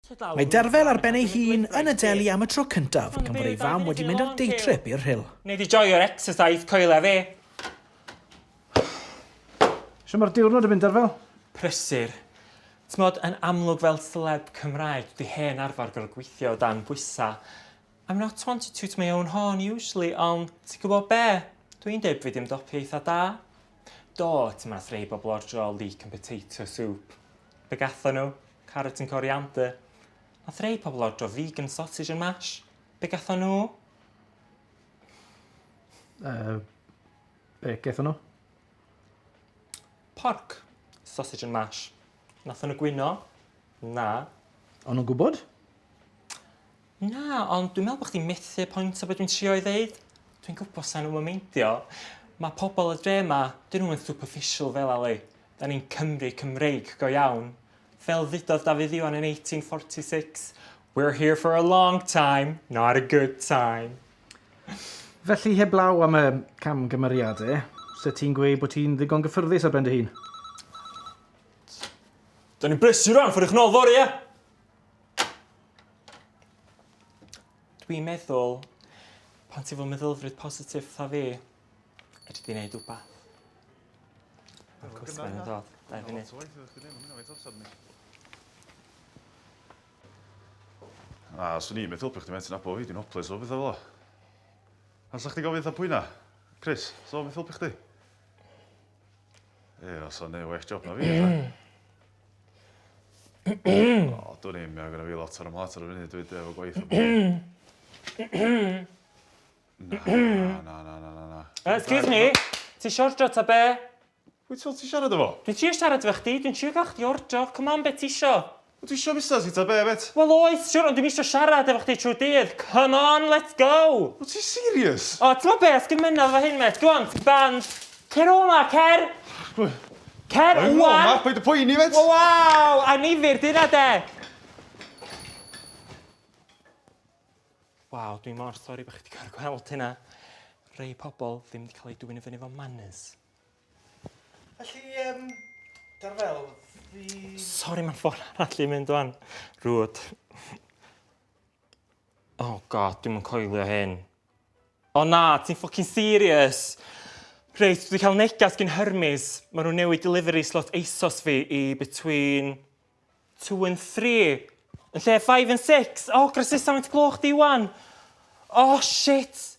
Mae Derfel ar ben ei hun yn y deli am y tro cyntaf gan fod ei fam wedi mynd ar day trip i'r Rhyl. Nei di joio'r exercise coeledd fi! Shwt mae'r diwrnod yn mynd Derfel? Prysur. T'mod yn amlwg fel seleb Cymraeg dwi hen arfer gorfod gweithio o dan bwysa I'm not one to toot my own horn usually ond ti'n gwybod be? Dwi'n deud bod fi 'di ymdopi eitha da. Do, ti mas rhei bobl ordro leek and potato soup. Be gatho nhw? Carrot and coriander. Nath rhei pobl ordro vegan sausage and mash. Be gatho nhw? Uh, be gatho nhw? Pork, sausage and mash. Nath nhw gwyno? Na. O'n nhw'n gwybod? Na, ond dwi'n meddwl bod chdi'n methu pwynt o be dwi'n trio'i ddeud. Dwi'n gwybod sa'n nhw'm yn meindio. Mae pobl y dre yma, dyn nhw'm yn superficial fel Ali. Da ni'n Cymry Cymreig go iawn. Fel ddudodd Dafydd Iwan yn 1846, We're here for a long time, not a good time. Felly heblaw am y camgymeriade, se ti'n gweud bod ti'n ddigon gyffyrddus ar ben dy hun? Da ni'n brysur rwan, ffordd i chnodd fory, ia? Dwi'n meddwl pan ti fel meddylfryd positif fatha fi fedri di neud wbath. Ma'r cwsmer yn dod. Dau funud. A, swn i'n meddwl bod chdi methu nabod fi, dwi'n hoples o bethau fel 'a. Pam 'sa chdi gofyn fatha pwy 'na? Chris, so beth helpu chdi? Ie, os o'n ei well job na fi. o, dwi'n ei mea gyda fi lot ar ymlaen ar y funud, dwi'n efo gwaith o bwyd. Na, na, na, na, na, na. Uh, excuse me, ti eisiau ordro ta be? Wyt ti'n ti siarad efo? Dwi'n trio siarad efo chdi, dwi'n trio gael chdi ordro, come on, be ti eisiau? Wyt ti isio busnes fi ta be, mêt? Wel oes, siwr, ond dwi'm isio siarad efo chdi trwy dydd. Come on, let's go! Wyt ti'n serious? O, t'mod be, os gin mynadd efo hyn, mêt, go on, ti'n banned. Cer o 'ma, cer! Cer ŵan! Rhoi o 'ma, paid â poeni, mêt! O waw, annifyr, dyna de! Waw, dwi mor sori bo' chi 'di gor'o' gweld hynna. Rei pobol ddim 'di ca'l eu dwyn i fyny 'fo manners. Felly yym da fel fi... Sori ma'n ffôn arall yn mynd ŵan. Rŵyt. Oh God dwi'm yn coelio hyn. O na, ti'n ffocin serious? Reit, dwi 'di cael negas gin Hermes. Maen nhw'n newid delivery slot ASOS fi i between two and three. Yn lle five and six. O, oh, grasesa faint gloch di wan. O, oh, shit!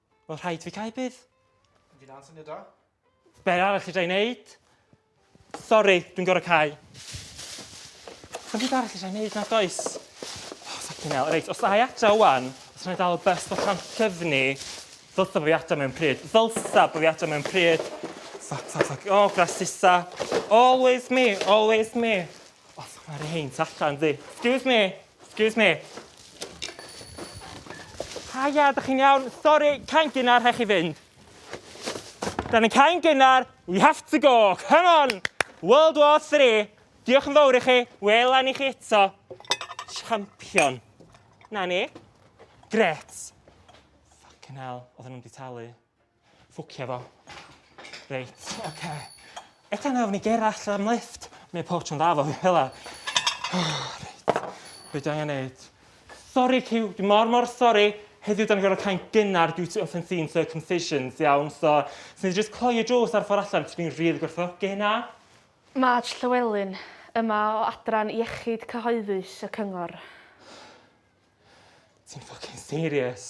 Wel rhaid fi cael bydd. Fi na'n syniad da. Be arall i dra'n neud? Sori, dwi'n gorau cael. Dwi'n byd arall i dra'n neud na does. Oh, fucking hell. Reit, os ai atra wan, os rhaid dal y bus bod rhan cyfni, ddylsa bod fi atra mewn pryd. Ddylsa bod fi atra mewn pryd. Fuck, fuck, fuck. Oh, grasisa. Always me, always me. Oh, mae'r hyn allan, di. Excuse me. Excuse me. Haia, ydych chi'n iawn? Sori, cain gynnar, rhaid chi fynd. Da ni'n cain gynnar, we have to go, come on! World War 3, diolch yn fawr i chi, wela ni chi eto. Champion. Na ni. Gret. Fucking hell, oedden nhw'n di talu. Ffwcio fo. Reit, oce. Eto nawr ni gerall am lift. Neu pob tro'n dda fo fi fel 'a. Reit. Be' dwi angen neud? Sori Cyw, dwi mor mor sori. Heddiw 'dan ni'n gorfod cau'n gynnar due to unforeseen circumcisions, iawn? So, swn i jyst cloi y drws ar ffor allan, dw i'n rili gwerthfawrogi hynna. Marge Llewelyn yma o Adran Iechyd Cyhoeddus y Cyngor. Ti'n ffycin serious?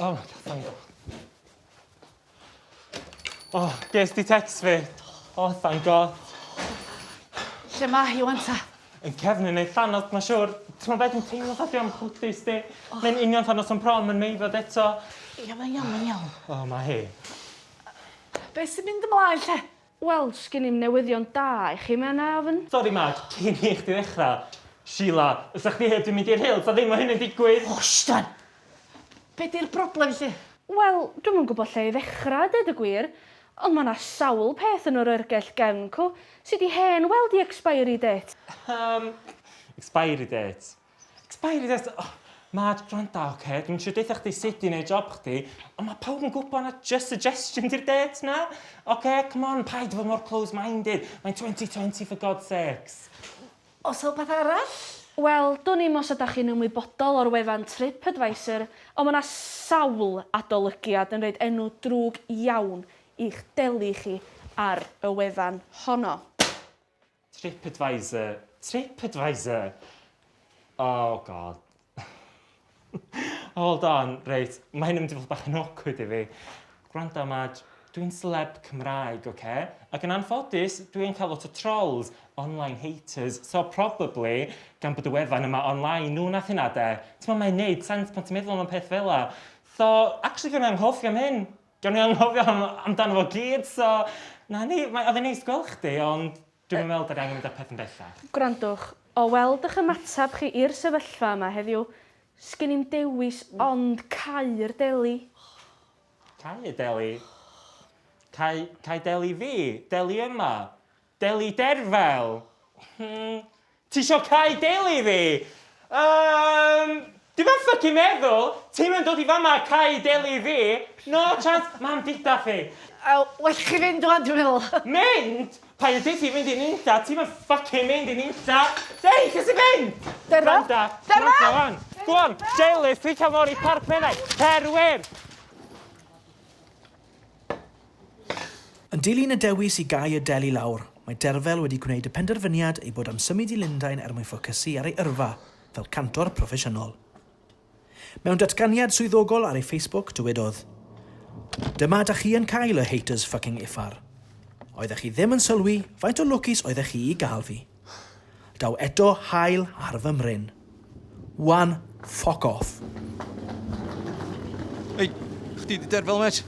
O, thank God. O, ges di text fi. O, thank God. Lle mae hi wan ta? Yn cefn yn ei thanos, mae siwr. Ti'n meddwl beth yn teimlo fatha am chwdus di? Mae'n union thanos o'n prom yn meifod eto. Ia, mae'n iawn, mae'n iawn. O, mae hi. Be sy'n mynd ymlaen lle? Wel, sgin i'm newyddion da i chi, mae yna ofn. Sori Mark, cyn i chdi ddechrau. Sheila, os 'sa chdi heb 'di mynd i'r Hill, 'sa ddim o hyn yn digwydd! O, Sian! Be 'di'r broblem 'lly? Wel, dwi'm yn gwybod lle i ddechrau, deud y gwir, ond mae 'na sawl peth yn yr oergell gefn co sy 'di hen weld i expiry date. Yym, expiry date? Paid â deall, oh, Mad, gwranda, oce, dwi'm isio deutha chdi sut i neud job chdi, ond ma' pawb yn gwybod na jyst suggestion di'r dates na, oce, come on, paid â bod mor close-minded, mae'n 2020 for God's sakes. O's 'na wbath arall? Wel, dwn i'm os ydach chi'n ymwybodol o'r wefan TripAdvisor, ond ma' 'na sawl adolygiad yn roid enw drwg iawn i'ch deli chi ar y wefan honno. Tripadvisor, Tripadvisor! Oh God. Hold on, reit, mae hyn yn mynd i fod bach yn awkward i fi. Gwranda, Madge, dwi'n celeb Cymraeg, oce? Okay? Ac yn anffodus, dwi yn cael lot o trolls, online haters, so probably, gan bod y wefan yma online, nhw nath hynna de. T'mo, mae'n neud sense pan ti'n meddwl am y peth fela. So, actually, fi'n anghofio am hyn. Gawn ni anghofio am amdano fo gyd so 'na ni. Mae oedd e'n neis gweld chdi ond dwi'm yn meddwl 'da ni angen mynd â'r peth yn bellach. Gwrandwch, o weld ych ymateb chi i'r sefyllfa yma heddiw, sgin i'm dewis ond cau'r deli. Cau y deli? Cau, cau deli fi? Deli yma? Deli derfel? Hmm. Tisio cau deli fi? Umm. Dwi ddim yn ffycin meddwl! Ti'm yn dod i fama a cau deli fi! No chance! Mam dida fi! Wel, well chi fynd wan dwi'n meddwl. Mynd? Paid yn deutha fi mynd i nunlla, ti'm yn ffycin mynd i nunlla! Deud lle ti'n mynd! Derfel? Gwranda, gwranda wan! Go on, deli, ffrica mor i parc menai! Cer wir! Yn dilyn y dewis i gau y del i lawr, mae Derfel wedi gwneud y penderfyniad ei bod am symud i Lundain er mwyn ffocysu ar ei yrfa fel cantor proffesiynol. Mewn datganiad swyddogol ar ei Facebook, dywedodd, Dyma da chi yn cael y haters fucking uffar. Oeddech chi ddim yn sylwi faint o lwcus oeddech chi i gael fi. Daw eto haul ar fy mryn. Wan, ffoc off. Ei, chdi di derfel, met?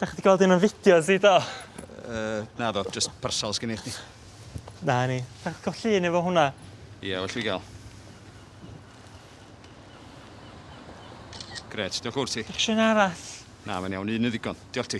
Da chdi gweld un o'n fideos i, do? Uh, na do, just parsal sgyn i chdi. Na ni, da chdi gweld llun efo hwnna? Ie, yeah, well fi gael. Gret, diolch wrth ti. Diolch sy'n arall. Na, mae'n iawn, un yn ddigon. Diolch ti.